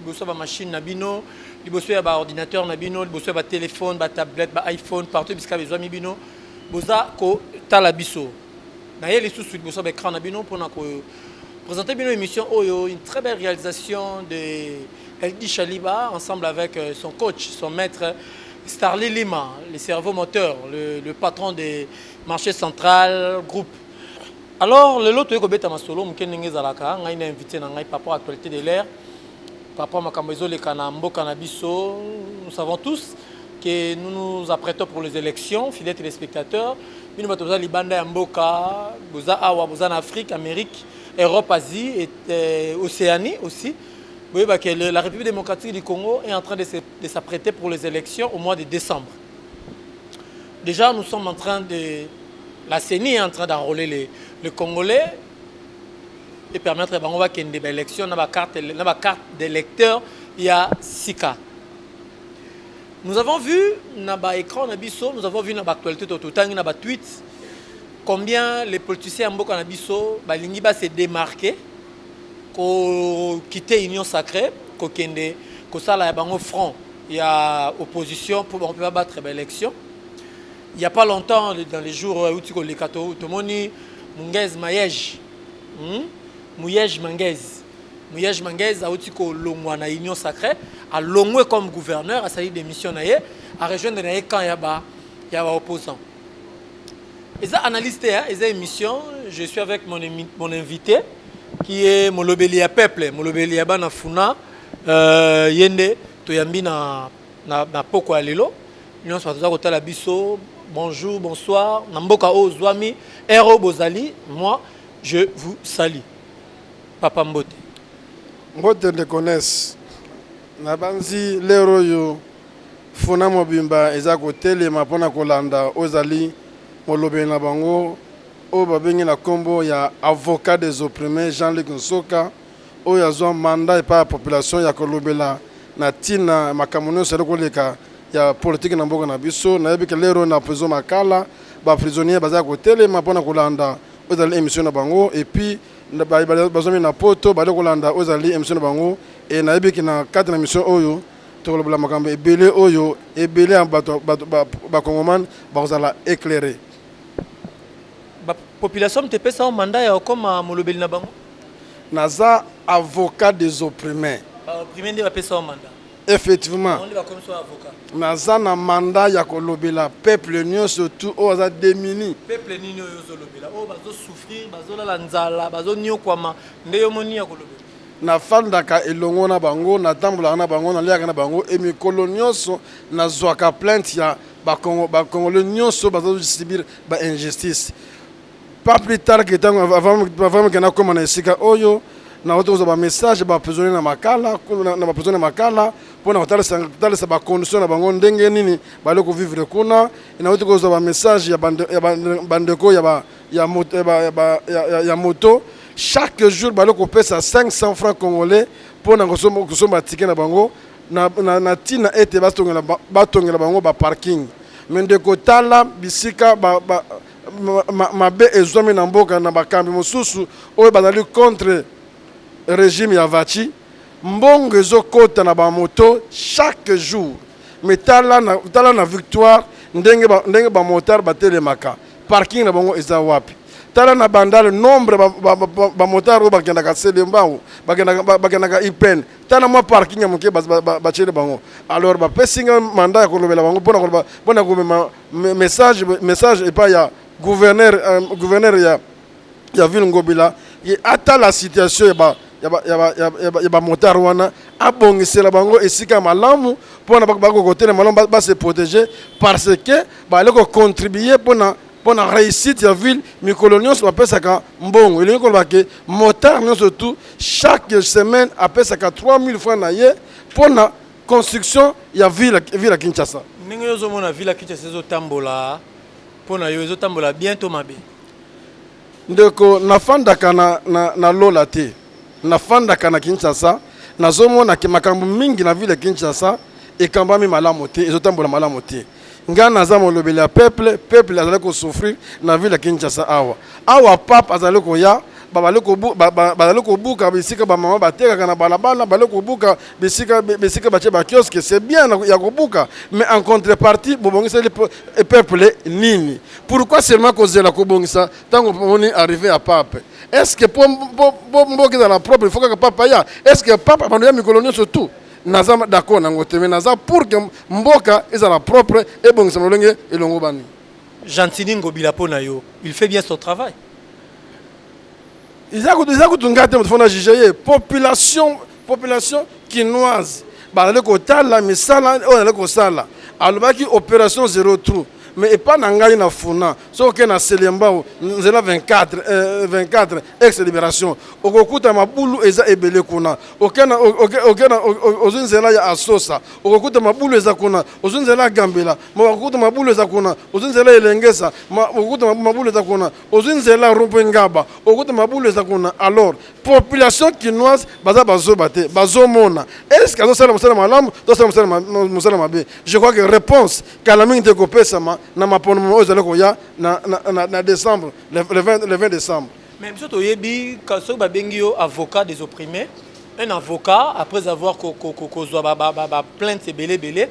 liboso ya ba machine na bino liboso ya ba ordinateur na bino liboso ya ba telefone ba tablette ba iphone partout bisika bizwami bino boza kotala biso na ye lisusu liboso ya ba écran na bino mpona ko présenter bino émission oyo une très belle réalisation de Eldi Shaliba ensemble avec euh, son coach son maître Starly Lima le cerveau moteur le, le patron des marchés central groupe Alors lelo toyei kobeta masolo moke ndenge ezalaka ngai na invité na ngai papa actualité de l'air papa makambo ezoleka na mboka na biso nous savons tous que nous nous apprêtons pour les élections fidèles téléspectateurs bino bato boza libanda ya mboka boza awa boza na afrique amérique europe asie et euh, océanie aussi boyeba que le- la république démocratique du congo est en train de se- de s'apprêter pour les élections au mois de décembre Dejà nous sommes en train de la CENI est en train d'enrôler les, les Congolais et permettre bango bakende ba élection na ba carte na ba carte d'électeur ya sika. Nous avons vu na ba écran na biso, nous avons vu na ba actualité to totangi na ba tweets combien les politiciens ya mboka na biso balingi ba se démarquer ko quitter union sacree ko kende ko sala ya bango front ya opposition pour bango pe ba battre ba elections il y a pas longtemps dans les jours euh, euti koleka tomoni mungez mayege hmm? muyege mangez Muyej Manguez auti kolongwa na Union Sacrée alongwe comme gouverneur asali démission na ye a rejoindre na ye camp ya ba ya ba opposants eza analyse te hein? eza émission je suis avec mon, mon invité qui est molobeli ya peuple molobeli ya bana funa euh, ye nde toyambi na, na, na poko ya lelo nyonso bato toza kotala biso bonjour bonsoir na mboka oyo ozwami ere oyo bozali moi je vous salie papa mbote mbote nde connaisse nabanzi lero oyo Funa mobimba eza kotelema mpo na kolanda oyo ezali molobeli na bango oyo babengi na kombo ya avocat des opprimes Jean Luc Nsoka oyo azua mandat epai ya population ya kolobela na tina ya makambo nionso ezali koleka ya politique na mboka na biso. Nayebi ke lero na prison Makala ba prisonniers baza kotelema mpo na kolanda oyo ezali emission na bango et puis baye bazuami na poto baye kolanda oyo ezali emission na bango et nayebi ke na kati na emission oyo Tokoloba makambo ebele oyo ebele ya bato ba Congoman bakozala eclairer. Ba populations epesa yo mandat ya okoma molobeli na bango? Naza avocat des opprimes. Ba opprimes nde bapesa yo mandat? Effectivement. Bango nde bakomisi yo avocat? Naza na mandat ya kolobela peuple nionso tout oyo aza demuni. Peuple nini oyo ozolobela? Oyo bazo souffrir, bazolala nzala, bazoniokwama nde yo omoni ya kolobela? Nafandaka elongo na bango, natambolaka na bango, naliaka na bango et mikolo nionso nazuaka plainte ya ba congolais nionso oyo bazo subir ba injustices. Pas plus tard que tango avant meke nakoma na esika oyo, nawuti kozua ba messages ya ba prisonniers na Makala, na ba prisonniers ya Makala pona kotalisa ba conditions na bango ndenge nini bazali ko vivre kuna et nawuti kozua ba messages ya ba ndeko ya ba ya moto, ya, ba, ya, ba, ya, ya, ya moto chaque jour bali kopesa 500 francs congolais mpo na kosomba tike na bango na, na, na ntina ete batongela, batongela bango baparking me ndeko tala bisika ba, ba, ma, ma, mabe ezwami na mboka na bakambi mosusu oyo bazali contre regime ya vaci mbongo ezokota na bamoto chaque jour me tala na, tala na victoire ndenge bamotare ba batelemaka Parking na bango eza wapi? Tala na bandal nombre ba motard oyo bakendaka selembangu bakendaka ipn tala mwa parking ya moke batiele bango alors bapesi nga mandat ya kolobela bango mpona koloba mpona komema message message epai ya gouverneur euh, gouverneur ya ya ville ngobila ye atala situation ya ba ya ba, ya ba, ya ba, ya ba, ya ba motard wana abongisela bango esika ya malamu mpona bakokotela malamu ba- base protege parce que baali kocontribue mpona mpona réussite ya ville mikolo nyonso bapesaka mbongo elingi koloba ke motard nyonso tout chaque semaine apesaka 3000 francs na ye mpona construction ya ville ville ya kinshasa ndenge yo ozomona vila kinshasa ezotambola mpo na yo ezotambola bien to mabe Ndeko na fandaka na na na lola te na fandaka na Kinshasa nazo mona ke makambu mingi na ville ya Kinshasa ekambami malamu te ezo tambola malamu te nga naza molobeli ya peuple peuple azali ko souffrir na ville ya Kinshasa awa awa pape azali koya babali kobu ba, ba, bazali kobuka bisika ba mama batekaka na balabala bali kobuka bisika bisika batie ba kiosque c'est bien ya kobuka mais en contrepartie bobongiseli peuple nini Pourquoi seulement kozela kobongisa tango pomoni arrive ya pape? Est-ce que po po mboka ezala propre il faut kaka pape aya? Est-ce que pape abando ya mikolo nionso tout? Naza d'accord nango te mais naza pour que mboka ezala propre ebongisa lolenge elongobani. Gentiny Ngobila pona yo il fait bien son travail? eza kutu eza kutu ngai te moto fona juge ye population population kinoise bazali kotala misala oyo azali kosala alobaki opération zero trou mais epai na ngai na funa soki okei na selembao nzela 24 euh, 24 ex libération okokuta mabulu eza ebele kuna okena okena ozwi nzela ya asosa okokuta mabulu eza kuna ozwi nzela ya gambela okokuta mabulu eza kuna ozwi nzela ya elengesa okokuta mabulu eza kuna Ozui nzela rond point ngaba okuta mabulu eza kuna alors population kinoise baza bazoba te bazomona est ce que azosala mosala malamu to asala mosala ma- mosala mabe je crois que réponse kala mingi te ekopesama na maponomo oyo ezali koya na, na, na, na décembre le, le, 20, le 20 décembre mais biso toyebi ka- soki babengi yo avocat des opprimés un avocat après avoir ko- ko- ko- kozwa ba- ba- ba- ba plainte ebele ebele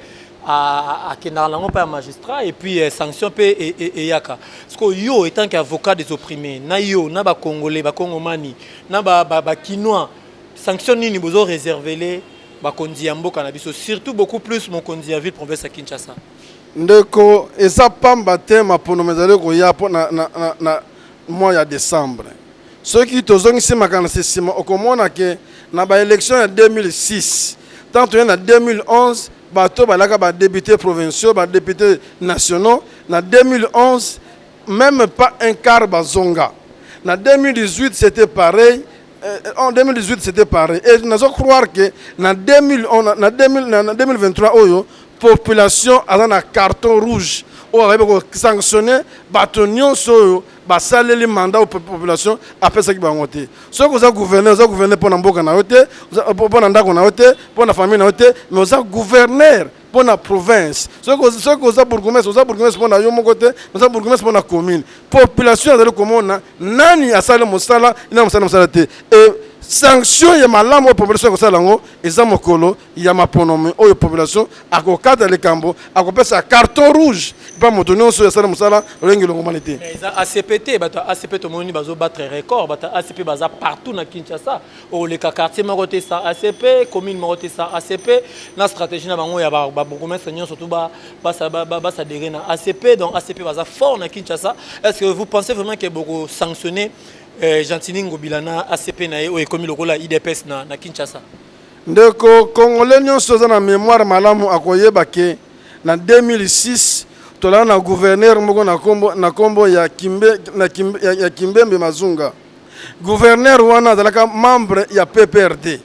akendaka nango mpa ya magistrat et puis euh, sanction mpe e, e, eyaka siko yo etant que avocat des opprimés na yo na bacongolais bacongomani na bakinois sanction nini bozo réservele bakonzi ya mboka na biso surtout beaucoup plus mokonzi ya ville province ya kinshasa ndeko eza pamba te maponomo ezali koya mpo na, na, na, na mois ya decembre soki tozongisi makanisi nsima okomona que na ba elections ya 2006 tango toye na 2011 bato oyo balaka ba deputes provinciaux ba deputes nationaux na 2011 meme pas un quart bazonga na 2018 c'etait pareil Euh, en 2018 c'était pareil et nazo croire que na 2000 on na 2000 na 2023 oyo population aza na carton rouge oyo akoki kosanctionne bato nyonso oyo basaleli mandat oyo population apesaki bango te soki oza gouverne oza gouverne mpo na mboka na yo te mpo na ndako na yo te mpo na famille na yo te mais oza gouverneur mpo na province. Soki oza bourgmestre, oza bourgmestre mpo na yo moko te, oza bourgmestre mpo na commune. Population azali komona nani asali mosala, nani mosala mosala te. E sanction ya malamu oyo population ekosala yango eza mokolo ya maponomi oyo population akokata likambo, akopesa carton rouge epa moto nyonso oyo asali mosala lolengi longomani te. Eza ACP te, bato ya ACP tomoni bazo battre record, bato ya ACP baza partout na Kinshasa. okoleka quartier moko te sa acp commune moko te sa acp na stratégie na bango ya babourgmestre nyonso tu basadere na acp donc acp baza fort na kinshasa est ce que vous pensez vraiment ke bokosanctionne euh, gentini ngobila na acp na ye oyo ekomi lokola idps na, na kinshasa ndeko congolais nyonso aza na mémoire malamu akoyeba ke na 2006 tolala na gouverneur moko na kombo ya kimbembe mazunga Gouverneur wana azalaka membre ya PPRD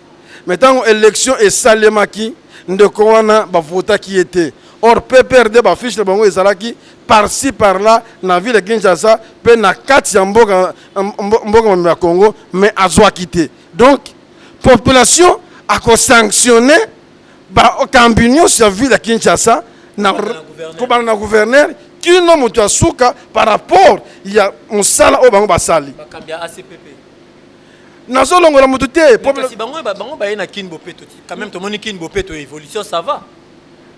mais tango election esalemaki ndeko wana ba votaki ye te or PPRD ba fiche na bango ezalaki par ci par là na ville ya Kinshasa pe na kati ya mboka mboka mobimba ya Congo mais azwaki te donc population ako sanctionner bakambi nyonso ya ville ya kinshasa na kobanda na gouverneur kino moto ya suka par rapport ya mosala oyo bango basali nazolongola moto te bango baye na kin bopeto quand même tomoni kin bopeto évolution ça va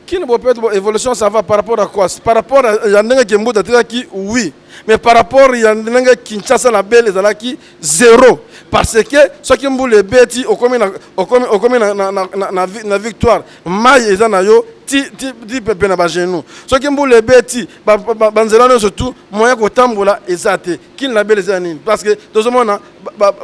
kin bopeto évolution ça va par rapport à quoi par rapport ya ndenge kembuta atikaki oui mais par rapport ya ndenge kinshasa na bele ezalaki zero parce que soki mbula ebeti okomi na, okomi, okomi na, na, na, na, na, na victoire mai eza na yo ti, ti, ti pepe na bagenou soki mbula ebeti banzela ba, ba, ba nyonso tu moyen kotambola eza te kini labele eza nini parce que tozomona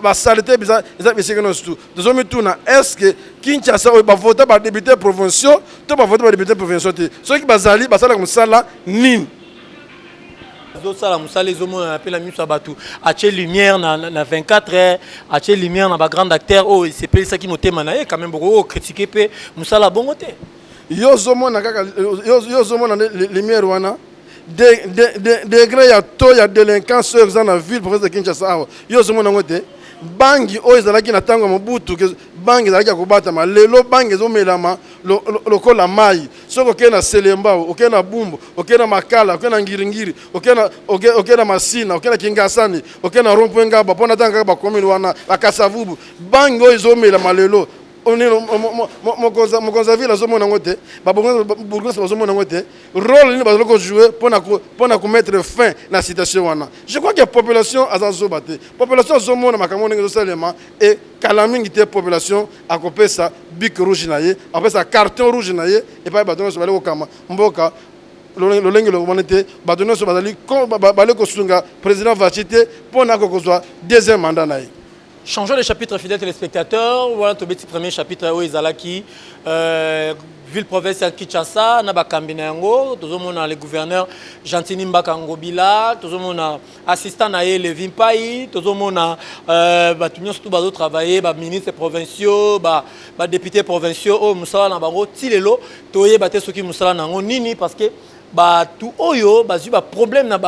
basalite ba, ba eza bisika nyonso tu tozomituna est ce que kinshasa oyo bavota badepute provinciaux to bavota badepute provinciaux te soki bazali basalaka mosala nini azosala mosala ezomonana mpe na miso ya bato atie lumière na, na, na 24 heures atie lumière na bagrande acteur oyo oh, esepelisaki motema na ye quand même bokoki kokritike mpe mosala bongo te yo ozomona kaka yo ozomona lumière wana degre ya to ya délinquance oyo eza na ville province de kinshasa awa yo ozomona yango te bangi oyo ezalaki na ntango ya mobutu Bang ezalaki ya kobatama lelo bang ezo melama lokola mayi soki okei na selembao okei na bumbu okei na makala okei na ngiringiri okei na okei okay na masina okei na kingasani okei na rompwe ngaba mpo natanga kaka bakomini wana akasavubu bang oyo ezo melama lelo mokonzi ya ville azomona yango te babourgmestre bazomona yango te role nini bazali kojoue mpo na komettre fin na citation wana je crois que population aza zoba te population azomona makambo ndenge ezosalema et kala mingi te population akopesa bic rouge na ye akopesa carton rouge na ye epai bato nyonso bali kokamba mboka lolenge longomani te bato nyonso bazali bali kosunga président vachi te mpo na kokozwa deuxième mandat na ye changeons de chapitre fidèle téléspectateur wana tobeti premier chapitre oyo ezalaki euh, ville province ya kinshasa na bakambi na yango tozomona le gouverneur gentini mbaka ngobila tozomona assistant na ye Levi Mpayi tozomona euh, bato nyonso tu bazo travailler ba ministres provinciaux ba, ba députés provinciaux oyo mosala na bango ti lelo toyeba te soki mosala na yango nini parce que bato oyo bazwi baproblème na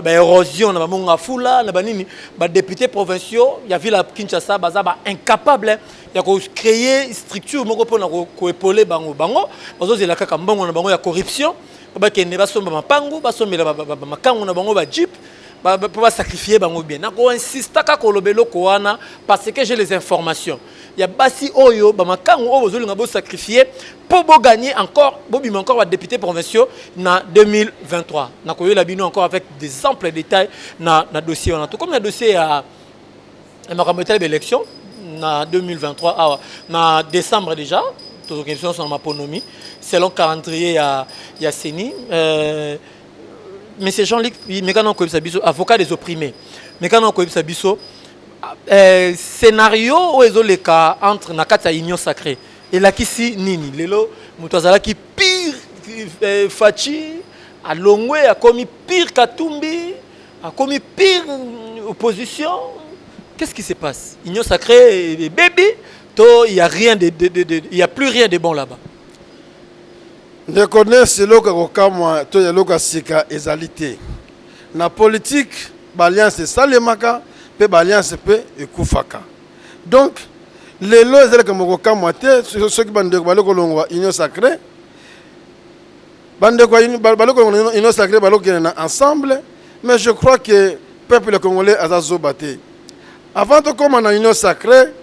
baérosion na bamonga fula na banini badéputé provinciaux ya ville ya kinshasa baza baincapable ya kocréer structure moko mpona koepole bango bango bazozela kaka mbongo na bango ya corruption bakende basomba mapangu basombela makangu na bango ba jeep mpo basacrifie bango bien nakoinsistaka koloba eloko wana parce que j'ai les informations ya basi oyo bamakangu oyo bozolinga bosacrifie mpo bogagner encore bobima encore badéputé provinciaux na 2023 nakoyela bino encore avec des amples détails na, na dossier wana tokomi na dossier ya na makambo etali ba élection na 2023 awa na décembre déjà tozokende biso nyonso na maponomi selon calendrier ya, ya ceni euh, monsieur jean luc mekana okoyebisa biso avocat des opprimés mekana okoyebisa biso euh, scénario oyo ezoleka entre na kati ya union sacrée elakisi nini lelo moto azalaki pire euh, faci alongwe akomi pire katumbi Akomi pire opposition. Qu'est-ce qui se passe Union sacrée et baby, to il y a rien de, de, de, de il y a plus rien de bon là-bas. Ndeko Nes eloko ya kokamwa to eloko ya sika ezali te. Na politique, b'alliance esalemaka mpe b'alliance mpe ekufaka. Donc lelo ezalaka mokokamwa te soki bandeko bali kolongwa Union sacrée Bandeko ya baloko union sacree balokende na ensemble mais je crois que peuple congolais aza zoba te avant tokoma na union sacree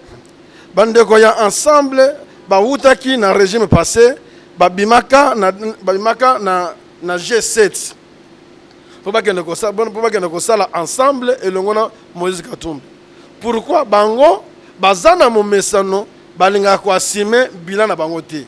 bandeko ya ensemble bawutaki na régime passé babimaka na, babimaka na, na G7 mpo bakende kosala ensemble elongo na Moïse Katumbi pourquoi bango baza na momesano balingaka koasime bilan na bango te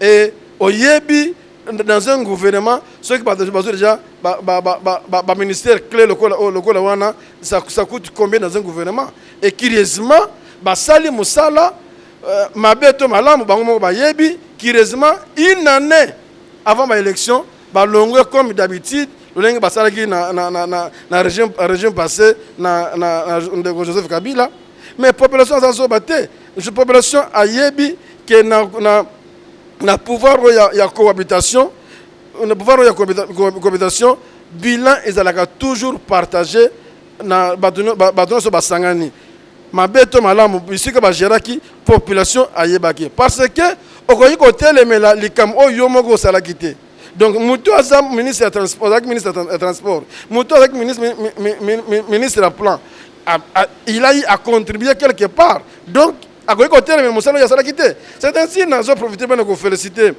et oyebi dans un gouvernement soki bato bazwi déjà baministère clé oh, lokola wana ça coûte combien dans un gouvernement et curieusement basali mosala euh, mabe to malamu bango moko bayebi curieusement une année avant baélection balongwe comme d'habitude lolenge basalaki na, na, na, na, na régime, régime passé na, na, na ndeko joseph kabila mais population aza zoba te Je population ayebi que na, na, na pouvoir oyo ya, ya cohabitation na pouvoir oyo ya cohabita- co- cohabitation bilan ezalaka toujours partage na bato nyo- ba- bato nyonso basangani mabe to malamu bisika bageraki population ayebaki parce que okoki kotelemela likambo oyo yo moko osalaki te donc moto oyo aza ministre ya transport azalaki ministre ya tran- ya transport moto oyo azalaki ministre mi- mi- mi- mi- ministre ya plan A, a, il a eu à contribuer quelque part donc akoki koteleme mosala oyo asalaki te c'est ainsi nazo profite bana kofélicite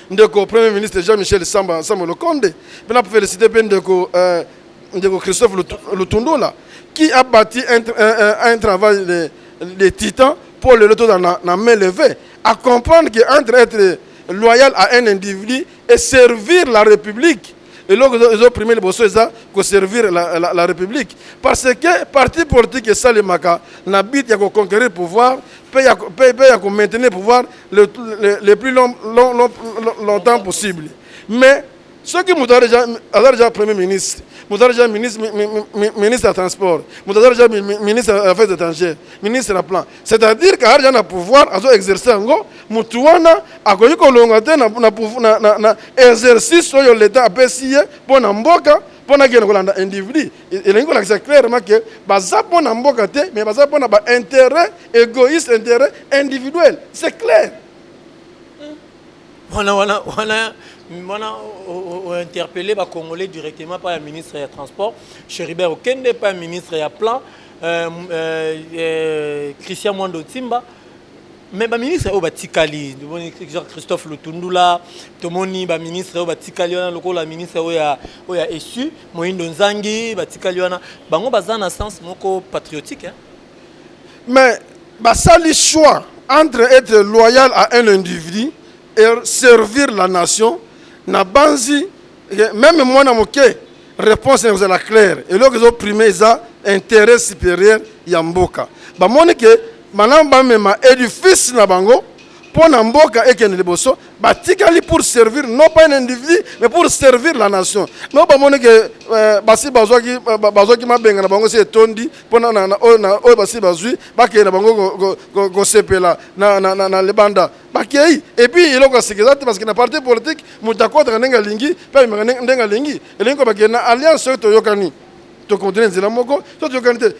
ndeko premier ministre jean michel samba samba lokonde mpe na félicite mpe ndeko euh, ndeko christophe lutundula qui a bâti un, un, un travail de, de titan mpo lelo tozala na, na main levée à comprendre que entre être loyal à un individu et servir la république eloko ezo prime liboso eza ko servir la, la, la république parce que parti politique esalemaka na but ya ko conquérir pouvoir pe ya, pe, pe ya ko maintenir pouvoir le, le, le plus long, long, long, longtemps possible mais soki moto aza deja premier ministre moto aza deja ministre, mi, mi, ministre ya transport moto aza deja ministre ya affaires étrangères ministre ya plan c'est à dire que aza deja na pouvoir azo exercer yango Mutu wana akoki kolonga te na, na, na, na, na exercice oyo leta apesi ye mpo na mboka mpo na kende kolanda individu. E, elingi kolakisa clairement ke baza mpo na mboka te, mais baza mpo na ba interet egoïste, interet individuel. C'est clair. Wana wana wana wana ointerpelle bacongolais directement pa ya ministre ya transport cheribert okende pa ya ministre ya plan euh, euh, euh, christian mwando timba Mais ba ministre oyo batikali tomoni Jean Christophe Lutundula tomoni ba ministre oyo batikali wana lokola ministre oyo ya oyo ya essu Moindo Nzangi batikali wana bango baza na sens moko patriotique hein? Mais basali choix entre être loyal à un individu et servir la nation na banzi Meme mwana moke reponse na kozala claire, eloko ezo prime eza interet superieur ya mboka. Bamoni ke malamu bamema edifice na bango mpo na mboka ekende liboso, batikali pour servir non pas un individu mais pour servir la nation. Non bamoni ke basi bazwaki mabenga na bango esi etondi mpo na oyo basi bazwi bakende na bango kosepela na libanda. bakei epuis eloko ya sika eza te parceke na parti politike moto akotaka ndenge alingi mpe amemaka ndenge alingi elingi ko bakei na alliance soki toyokani tokontinue nzela moko so toyokani te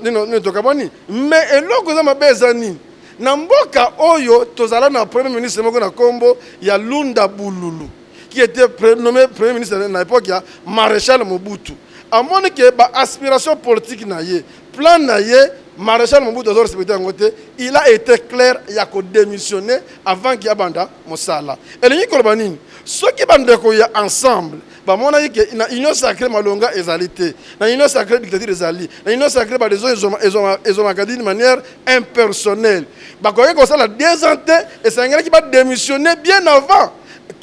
nini tokabwani mais eloko eza mabe eza nini na mboka oyo tozala na premier ministre moko na nkombo ya lunda bululu qui était nommé premier ministre na époque ya maréchal mobutu amoni ke ba aspiration politique na ye Plan na ye Marechal Mobutu azo respecter yango te, il a ete clair ya ko demissionner avant que abanda mosala. Elingi koloba nini? Soki ba ndeko ya Ensemble bamonaki que na Union sacree malonga ezali te, na Union sacree dictature ezali, na Union sacree ba decisions ezwamaka d'une manière impersonnelle, bakokaki kosala deux ans te, esangelaki ba demissionner bien avant.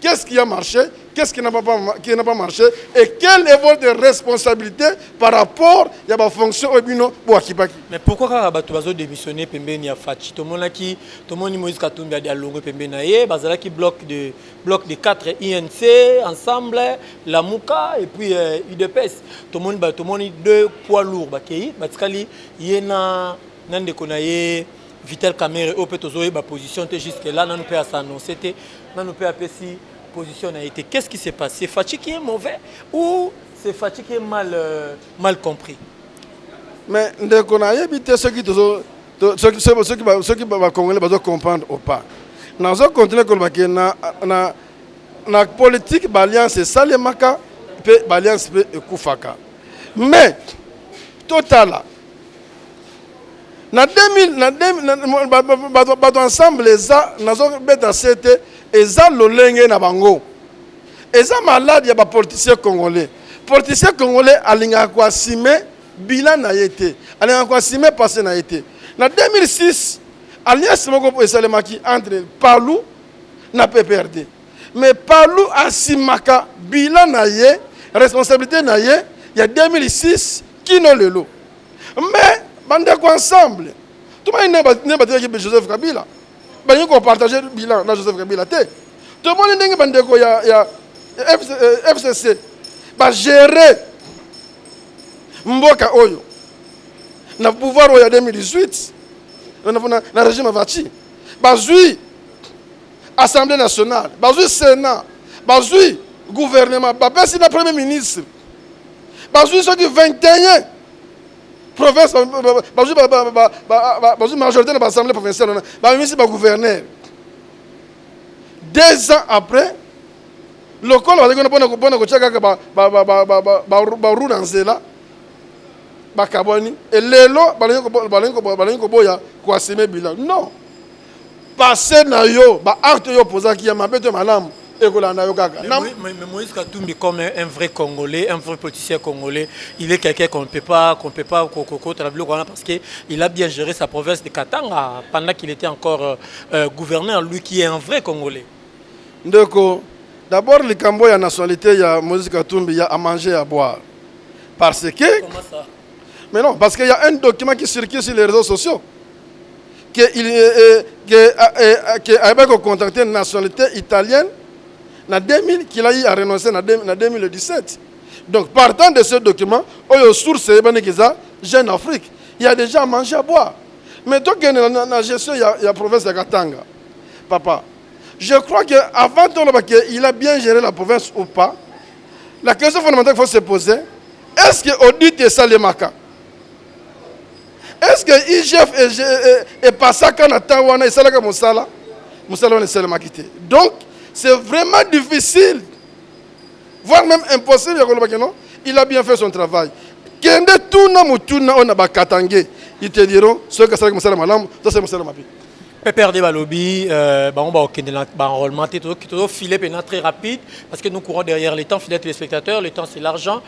Qu'est ce qui a marche, qu'est ce qui n'a pas, qui n'a pas marche et quel est votre responsabilité par rapport ya ba fonction oyo bino boakipaki mais pourquoi kaka bato bazo démissionner pembeni ya faci tomonaki tomoni moïse katumbi adi alongwe pembeni na ye bazalaki bloc de bloc de 4 inc ensemble lamuka et puis euh, udps tomoni ba tomoni deux poids lourd bakei batikali ye na na ndeko na ye Vital Kamerhe oyo pe tozo yeba position te jusque là nanu pe a s'annoncer te nanu pe apesi position na ye te qu'est-ce qui se passe c'est Fatshi qui est mauvais ou c'est Fatshi qui est mal euh, mal compris mais ndeko na yebi te soki tozo soki soki soki ba congolais bazo comprendre ou pas nazo continuer koloba ke na na na politique ba alliance esalemaka pe ba alliance pe ekufaka mais totala na 2000 na 2000 bato ensemble eza nazo beta sete eza lolenge na bango eza malade ya ba politicien congolais politicien congolais alingaka ko assume bilan na ye te alingaka ko assume passé na ye te na 2006 alliance moko esalemaki entre palu na pprd mais palu asimaka bilan na ye responsabilité na ye ya 2006 Kino lelo. Mais bandeko ensemble tomoni ndenge batikaki mpe Joseph Kabila balingi kopartage bilan na Joseph Kabila te. Tomoni ndenge bandeko ya, ya FCC euh, bagere mboka oyo na pouvoir oyo ya 2018 na, na, na regime ya Fatshi bazwi assemblee nationale bazwi senat bazwi gouvernement bapesi na premier ministre bazwi soki 21 province bazwi bazwi majorité na baassemblée provinciale wana bamemisi bagouverneur deux ans après lokola bazalaki wana mpona mpona kotya kaka baru na nzela bakabwani elelo balingi koboya koasime bilan non Passe na yo, ba actes oyo opozaki ya mabe to ya malamu ekolanda yo kaka. Na. Mais Moïse Katumbi comme un vrai Congolais, un vrai politicien Congolais, il est quelqu'un qu'on ne peut pas, qu'on ne peut pas kokota na biloko wana parce que il a bien géré sa province de Katanga pendant qu'il était encore euh, euh, gouverneur, lui qui est un vrai Congolais. Ndeko, d'abord likambo ya nationalité ya Moïse Katumbi ya à manger à boire. Parce que Comment ça? Mais non, parce qu'il y a un document qui circule sur les réseaux sociaux. que il euh, que euh, que ayeba ko contacter nationalité italienne na 2000 qu'il a eu à renoncer na 2017 donc partant de ce document oyo source eyebani kiza jeune afrique il y a déjà manger à boire mais tokende na, na gestion ya, ya province ya katanga papa je crois que avant toloba que il a bien géré la province ou pas la question fondamentale qu'il faut se poser est ce que audit esalemaka Est ce que IGF epasaka na temps wana esalaka mosala mosala wana esalemaki te donc c'est vraiment difficile voire même impossible ya koloba keno il a bien fait son travail kende tuna motuna oyo na bakatange ils te diront soki asalaki mosala malamu to asali mosala mabe PPRD Balobi, euh, bah, on va bah, enrôlement, tout file maintenant très rapide, parce que nous courons derrière les temps, fidèles téléspectateurs, le temps c'est l'argent,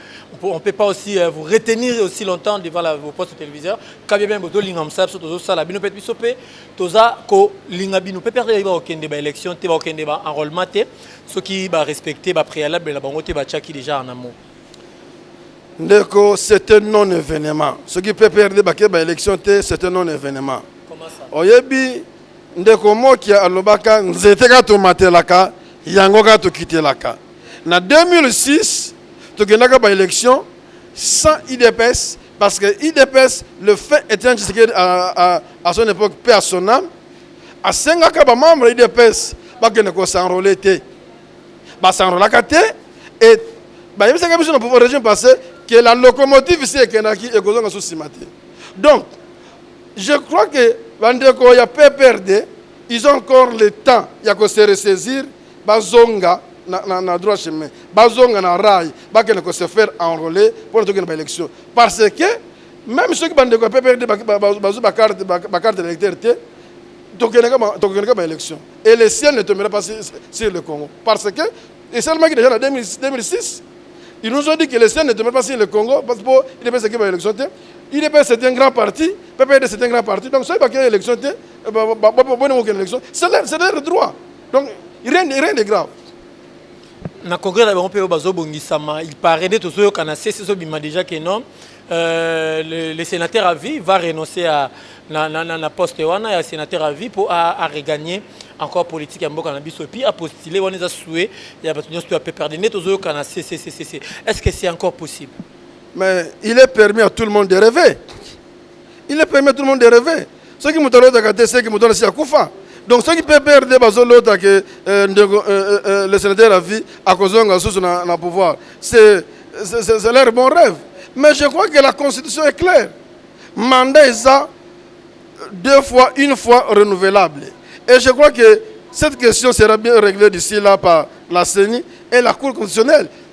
on ne peut pas aussi euh, vous retenir aussi longtemps devant la, vos postes téléviseurs quand bien même bozolinga mosala biso tozosala bino mpe biso mpe toza kolinga bino mpe perte yeba kokende baélection te bakokende baenrôlement te soki barespecte bapréalable na bango te batiaki déjà en amour ndeko c'est un non événement soki pprd bakei baélection te c'est un non événement oyebi Ndeko Mokia alobaka nzete kaka tomatelaka yango kaka tokitelaka. Na 2006 tokendaka ba elections sans udps parce que udps le feu Etienne Tshisekedi à, à, à son epoque paix à son ame asengaka ba membres ya udps bakende ko s'enrôler te. Ba s'enrôlaka te et bayebisaka biso na pouvoir régime passé que la locomotive si ekendaki ekozonga sous sima te. Donc Je crois que ba ndeko ya PPRD ils ont encore le temps ya ko se ressaisir bazonga na, na, na droit chemin bazonga na rail bakende ko se faire enrôler mpo na tokende ba élection parce que meme soki ba ndeko ya PPRD bazwi ba carte ba carte d'électeur te tokendeka tokendeka ba élection et le ciel ne tombera pas sur le Congo parce que esalemaki deja na 2006 il nous ont dit que le CN ne demeure pas sur le Congo parce que pour IDPS qui va élection te IDPS c'est un grand parti PPD c'est un grand parti donc soki bakei élection te boni mokende élection c'est leur droit donc rien rien de grave na congrès na bango mpe oyo bazobongisama il paraît nde tozoyokana sesi ezobima déjà que non Euh, le, le sénateur à vie va renoncer à na, na, na, na poste wana ya sénateur à vie mpo a, a regagner encore politique ya mboka na biso epuis apostule wana eza sue ya bato nyonso to ya pprd nde tozoyoka na cccc est ce que c'est encore possible mais il est permis à tout le monde de rêver il est permis à tout le monde de rêver soki moto alotaka te seki moto alasi akufa donc soki pprd bazolota ke euh, ndeko euh, euh, le sénateur à vie akozonga lisusu na, na pouvoir c'est leur bon rêve mais je crois que la constitution est claire mandat eza deux fois une fois renouvelable et je crois que cette question sera bien réglée d'ici là par la CENI et la Cour constitutionnelle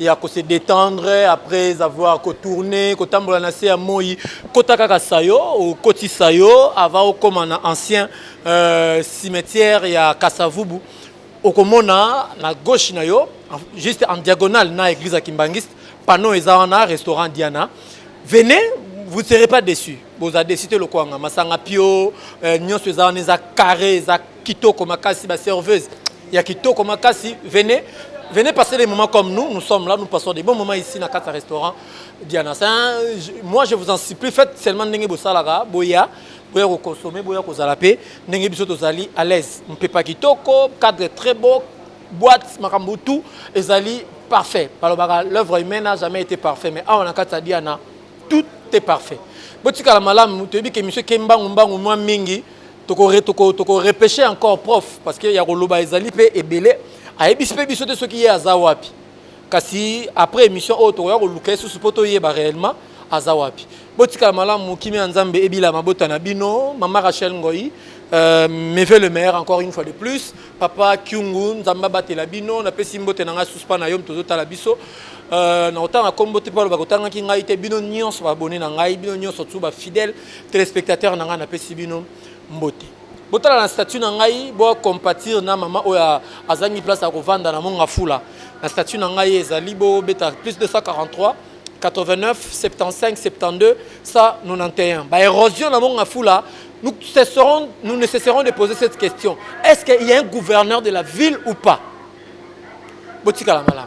ya ko se detendre après avoir ko tourner kotambola na se ya moi kota kaka sayo okoti sayo avant okoma na ancien euh, cimetière ya kasavubu okomona na gauche na yo juste en diagonale na église ya kimbangiste panneau eza wana restaurant diana venez vous ne serez pas déçu boza déçu te lokwanga masanga pio euh, nyonso eza wana eza carré eza Kitoko makasi ba serveuse ya kitoko makasi venez venez passer des moments comme nous nous sommes là nous passons des bons moments ici na kata restaurant Diana c'est un moi je vous en supplie faites seulement ndenge bosalaka boya boya ko consommer boya ko zala pe ndenge biso tozali à l'aise mpepa kitoko cadre très beau boîte makambo tout ezali parfait balobaka l'œuvre humaine n'a jamais été parfait mais awa na kata Diana tout est parfait botikala malamu toyebi ke monsieur kembangu mbangu mwa mingi toko re toko toko repeshe encore prof parce que ya koloba ezali mpe ebele ayebisi mpe biso te soki ye aza wapi kasi après émission oyo tokoya koluka ye susu mpo toyeba réellement aza wapi botikala malamu kimia ya nzambe ebila mabota na bino mama rachel ngoi Euh, meve le maire encore une fois de plus papa kyungu nzambe abatela bino napesi mbote na ngai suspa na yo tozotala biso euh, na kotanga nkombo te mpo aloba kotangaki ngai te bino nyonso babone na ngai bino nyonso tu bafidèle Telespectateur na ngai napesi bino mbote. Botala na statut na ngai bo compatir na mama oyo azangi place ya kovanda na monga fula. Na statut na ngai ezali bo beta plus 243 89 75 72 191. Ba érosion na monga fula nous, cesserons, nous ne cesserons de poser cette question. Est-ce qu'il y a un gouverneur de la ville ou pas Botika la malade.